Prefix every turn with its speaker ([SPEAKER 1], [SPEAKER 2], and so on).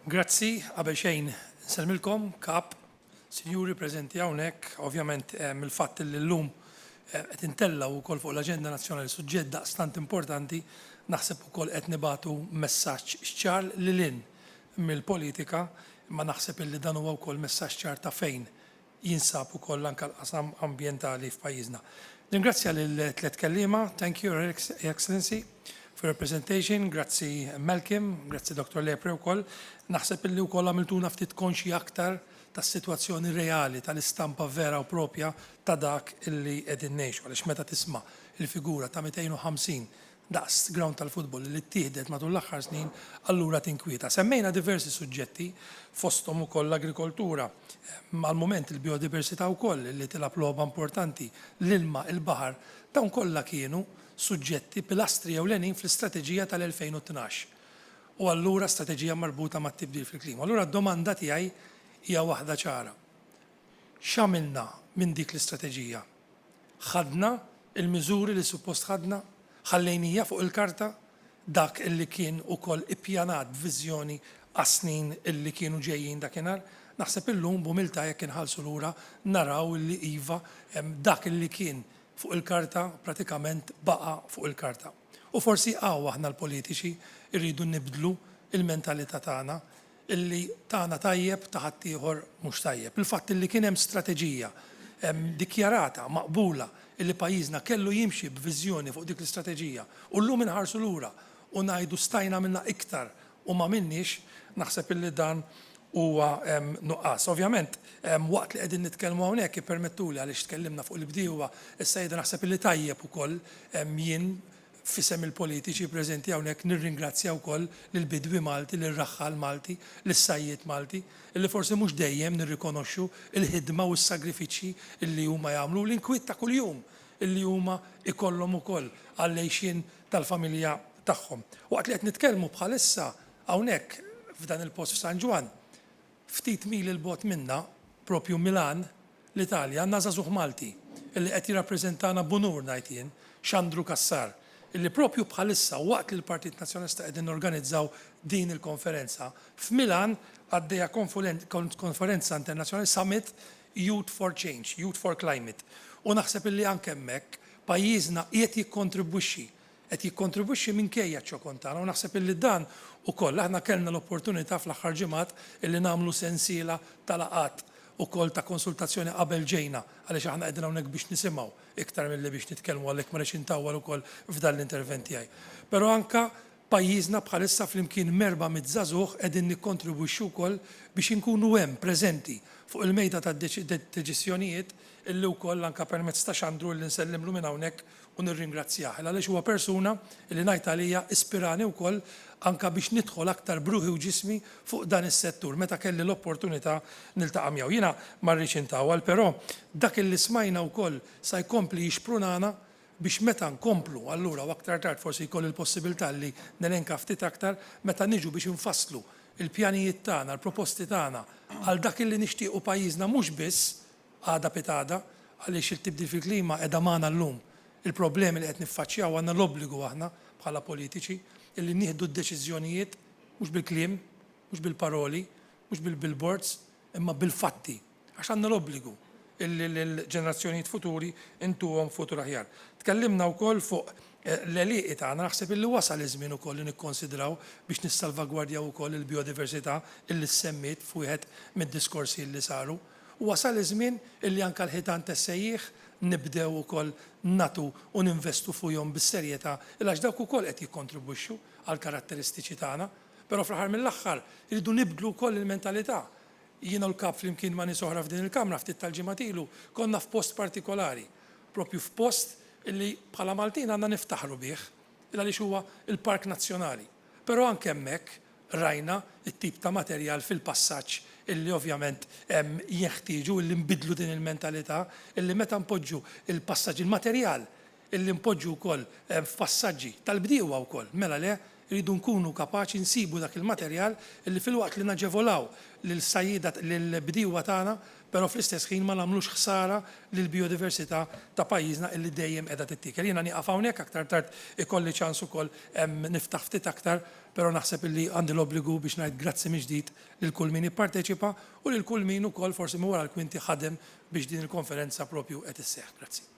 [SPEAKER 1] Grazzi, qabel xejn nsellmilkom, Kap, Sinjuri preżenti hawnhekk, ovvjament eh, mill-fatt li llum eh, qed intellgħu wkoll fuq l-aġenda nazzjonali suġġett daqstant importanti, naħseb ukoll qed nibatu messaġġ ċar lil hinn mill-politika, imma naħseb illi dan huwa wkoll messaġġ ċar ta' fejn jinsab ukoll anke l-qasam ambjentali f'pajjiżna. Ningrazzja lill-tliet kelliema. Thank you, Your Excellency, for your presentation. Grazzi Malcolm, grazzi Dr. Lepre wkoll. Naħseb illi wkoll għamiltuna ftit konxji aktar tas-sitwazzjoni reali, tal-istampa vera u proprja ta' dak illi qegħdin ngħixu. Għaliex meta tisma' l-figura ta' 250 daqs grawnd tal-futbol li ttieħdet matul l-aħħar snin, allura tinkwieta. Semmejna diversi suġġetti, fosthom ukoll l-agrikoltura, għall-mument il-bijodiversità wkoll li tilgħab logħba importanti, l-ilma, il-baħar, dawn kollha kienu suġġetti pilastri ewlenin fl-istrateġija tal-2012 u allura strateġija marbuta mat-tibdil fil-klima. Allura d-domanda tiegħi hija waħda ċara, x'għamilna minn dik l-istrateġija? Ħadna l-miżuri li suppost ħadna? Ħallejnija fuq il-karta dak li kien ukoll ippjanat b'viżjoni għas-snin li kienu ġejjin dakinhar? Naħseb illum b'umiltà jekk inħarsu lura naraw li iva, dak li kien fuq il-karta pratikament baqa' fuq il-karta. U forsi hawn aħna l-politiċi rridu nibdlu l-mentalità tagħna, li tagħna tajjeb ta' ħaddieħor mhux tajjeb. Il-fatt li kien hemm strateġija dikjarata, maqbula, li pajjiżna kellu jimxi b'viżjoni fuq dik l-istrateġija u llum inħarsu lura u ngħidu stajna għamilna iktar u m'għamilniex, naħseb illi dan huwa nuqqas. Ovvjament, waqt li qegħdin nitkellmu hawnhekk ippermettuli għaliex tkellimna fuq il-bdiewa, is-sajjieda naħseb illi tajjeb ukoll jien F'isem il-politiċi preżenti hawnhekk nirringrazzja wkoll lill-bidwi Malti, lir-raħħal Malti, lis-sajjied Malti, illi forsi mhux dejjem nirrikonoxxu l-ħidma u s-sagrifiċċji illi huma jagħmlu u l-inkwiet ta' kuljum illi huma jkollhom ukoll għall-għixien tal-familja tagħhom. Waqt li qed nitkellmu bħalissa hawnhekk f'dan il-post f'San Ġwann, Ftit mili 'l bogħod minna, proprju Milan, l-Italja, għandna żagħżugħ Malti illi qed jirrappreżentana b'unur ngħid jien, Xandru Cassar, illi proprju bħalissa waqt li l-Partit Nazzjonalista qegħdin norganizzaw din il-konferenza, f'Milan għaddejja konferenza internazzjonali Summit Youth for Change, Youth for Climate, u naħseb illi anke hemmhekk pajjiżna qiegħed jikkontribwixxi qed jikkontribwixxi minkejja ċ-ċokon tagħna u naħseb illi dan ukoll aħna kellna l-opportunità fl-aħħar ġimgħat illi nagħmlu sensiela ta' laqgħat ukoll ta' konsultazzjoni qabel ġejna għaliex aħna qegħdin hawnhekk biex nisimgħu iktar milli biex nitkellmu għalhekk ma rridx intawwal ukoll f'dan l-intervent tiegħi. Però anke pajjiżna bħalissa flimkien m'erba' mitt żagħżugħ qegħdin nikkontribwixxu wkoll biex inkunu hemm preżenti fuq il-mejda tad-deċiżjonijiet illi wkoll anke permezz ta' Xandru illi nsellimlu minn hawnhekk u nirringrazzjah il għaliex huwa persuna li ngħid għalija ispirani wkoll anke biex nidħol aktar b'ruħi u ġismi fuq dan is-settur meta kelli l-opportunità niltaqa' miegħu. Jiena ma rridx intawwal però dak li smajna wkoll sa jkompli jixprunana biex meta nkomplu allura u aktar tard forsi jkolli l-possibilità li nelenka ftit aktar meta niġu biex infasslu l-pjanijiet tagħna, l-proposti tagħna għal dak li nixtiequ pajjiżna mhux biss għada pitgħada għaliex it-tibdil fil-klima qiegħda magħna llum. Il-problemi li qed niffaċċjaw għandna l-obbligu aħna bħala politiċi illi nieħdu d-deċiżjonijiet mhux bil-kliem, mhux bil-paroli, mhux bil-billboards imma bil-fatti għax għandna l-obbligu illi lill-ġenerazzjonijiet futuri intuhom futur aħjar. Tkellimna wkoll fuq l-għelieqi tagħna naħseb illi wasal iż-żmien ukoll li nikkonsidraw biex nissalvagwardjaw ukoll il-bijodiversità illi ssemmiet f'wieħed mid-diskorsi illi saru. u wasal iż-żmien illi anke l-ħitan tessejjih nibdew ukoll nagħtu u ninvestu fuihom bis-serjetà il għax dawk ukoll qed jikkontribwixxu għall-karatteristiċi tagħna. Però fl-aħħar mill-aħħar irridu nibdlu wkoll il-mentalità. Jiena u l-Kap flimkien ma' nies oħra f'din il-Kamra ftit tal-ġimgħat ilu konna f'post partikolari, proprju f'post illi bħala Maltin għandna niftaħru bih il għaliex huwa l-Park Nazzjonali. Però anke hemmhekk Rajna t-tip ta' materjal fil-passaġġ illi ovvjament jinħtieġu illi nbiddlu din il-mentalità illi meta npoġġu l-passaġġi, il-materjal illi npoġġu wkoll f'passaġġi tal-bdiewa wkoll, mela le, irridu nkunu kapaċi nsibu dak il-materjal illi filwaqt li naġevolaw lill-sajjieda, lill-bdiewa tagħna, però fl-istess ħin ma nagħmlux ħsara lill-bijodiversità ta' pajjiżna illi dejjem qiegħda tittiekel. Jiena nieqaf hawnhekk, aktar tard ikolli ċans ukoll niftaħ ftit aktar Però naħseb illi għandi l-obbligu biex ngħid grazzi mill-ġdid lil kull min ipparteċipa u lil kull min ukoll forsi minn wara l-kwinti ħadem biex din il-konferenza propju qed isseħħ. Grazzi.